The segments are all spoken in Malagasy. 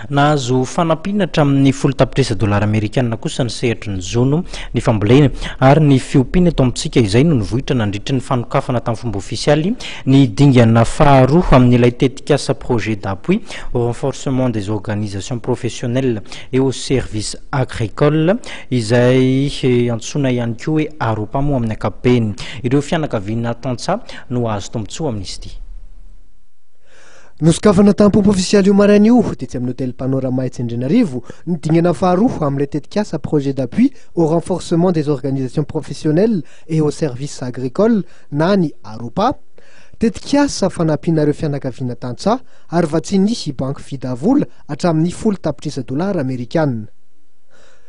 Nahazo fanampiana hatramin'ny folo tapitrisa dolara amerikana kosa ny sehatry ny jono, ny fambolena ary ny fiompiana eto amintsika. Izay no nivoitra nandritry ny fanokafana tamin'ny fomba ofisialy ny dingana faharoa amin'ilay tetikasa Projet d'appui au renforcement des organisations professionnelles et aux services agricoles, izay antsoina ihany koa hoe Aropa moa amin'ny ankapobeny. Ireo fianakaviana tantsaha no hahazo tombontsoa amin'izy ity. Nosokafana tamin'ny pompe ofisialy io maraina io, tetsy amin'ny Hôtel Panorama etsy Andrianarivo, ny dingana faharoa amin'ilay tetikasa Projet d'appui au renforcement des organisations professionnelles et aux services agricoles na ny AROPA, tetikasa fanampiana ireo fianakaviana tantsaha, ary vatsian'ny Banky Vidavola hatramin'ny folo tapitrisa dolara amerikana.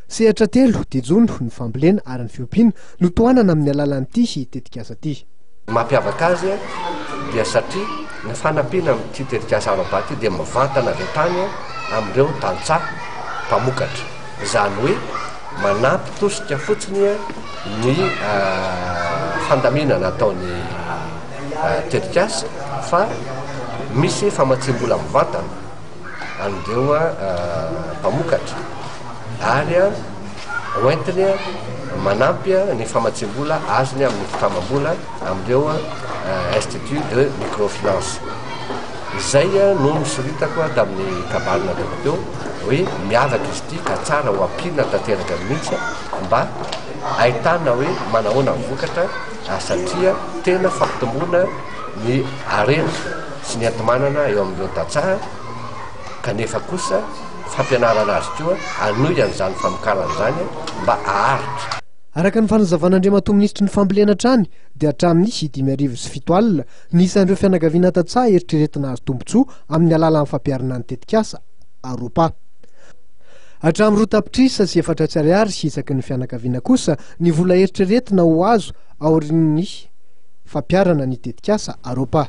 Sehatra telo dia jono ny fambolena ary ny fiompiana no tohanana amin'ny alalan'ity tetikasa ity. Ny mampiavaka azy dia satria ny fanampiana amin'ity tetikasa ara-bata ity dia mivantana avy hatrany amin'ireo tantsaha mpamokatra, izany hoe manampy tosika fotsiny ny fandaminana ataon'ny tetikasa fa misy famatsiam-bola mivantana. an'ireo mpamokatra ary hoentiny manampy ny famatsiam-bola azony amin'ny fitamam-bola amin'ireo institut de microfinance. Izay no nosoritako tamin'ny kabary nataoko teo hoe miavaka izy ity ka tsara ho ampiana tanteraka mihitsy mba ahitana hoe manahoana ny vokatra satria tena fampitomboana ny harena. sy ny enti-manana eo amin'ireo tantsaha kanefa kosa fampianarana azy koa hanohy an'izany famokarana izany mba haharitra Araka ny fanazavan'Andriamatoa Minisitry ny Fambolena hatrany dia hatramin'ny sy dimy arivo sy fito alina ny isan'ireo fianakaviana tantsaha eritreretina hahazo tombontsoa amin'ny alalan'ny fampiharana ny tetikasa Aropa hatramin'ny roa tapitrisa sy efatra sy ariary sy isaky ny fianakaviana kosa ny vola eritreretina ho azo aorian'ny fampiharana ny tetikasa Aropa.